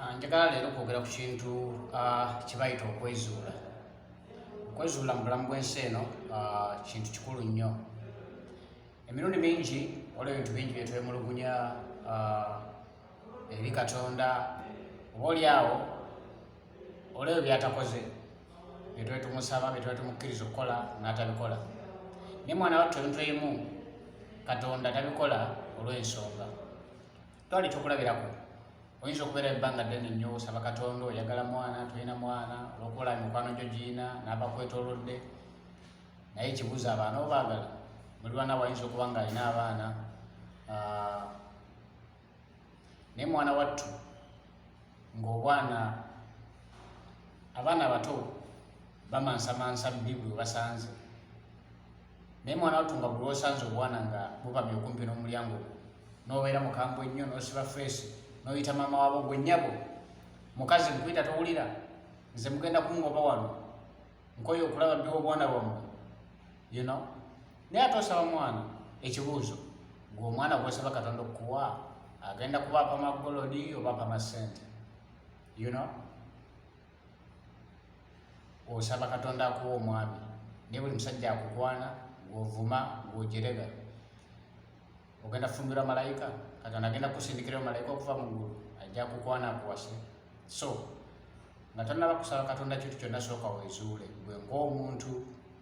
Ah, njagala leero kwogera ku kintu ah, kyebayita okwezuula okwezuula mu bulamu bw'ensi eno ah, kintu kikulu nnyo emirundi mingi waliwo ebintu bingi byetwemulugunya eri katonda oba oli awo olebyo byatakoze byetwetumusaba byetwetumukkiriza okukola n'atabikola naye mwana wattu ebintu ebimu katonda tabikola olw'ensonga twali ekyokulabirako oyinza okubeera ebbanga ddene nnyo osaba katonda oyagala mwana tolina mwana olwokuola mikwano gyo giina n'abakwetolodde naye ekibuuzo abaana obaagala muli baana wayinza okuba nga alina abaana ah, naye mwana wattu ng'obwana abaana abato bamansamansa bibuli webasanze naye mwana wattu nga buli osanze obwana nga bupamye okumpi n'omulyango gwo n'obeera mukambu ennyo n'osiba feesi n'oyita maama wabo gwe nnyabo mukazi nkuyita towulira nze mugenda kungoba wano nkoye okulaba bbi obwana bwammwe you know naye ate osaba mwana ekibuuzo gwe omwana gwosaba katonda okukuwa agenda kubaapa magolodi obaapa masente you know osaba katonda akuwa omwami naye buli musajja akukwana gwovuma gwojerega ogenda kufumbirwa malayika katonda agenda kusindikirayo malayika okuva mu ggulu ajja kukwana akuwase so nga tonaba kusaba katonda kintu kyonna sooka wezuule gwe ngaomuntu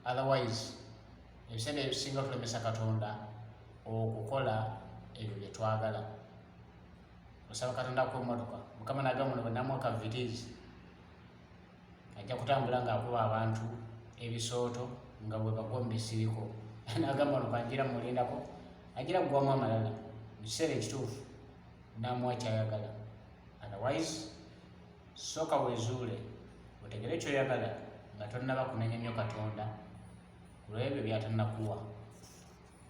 otherwise ebiseera ebisinga tulemesa katonda okukola ebyo byetwagala osaba katonda akuwa emmotoka mukama nagamba no bwenamuwa kavitizi ajja kutambula ng'akuba abantu ebisooto nga bwe bagwa mu bisiriko nagamba no banjira mulindako ajira kugwamu amalala mu kiseera ekituufu namuwa kyayagala otherwise sooka wezuule otegere kyoyagala nga tonnaba kunenya nnyo katonda kulwebyo byatanakuwa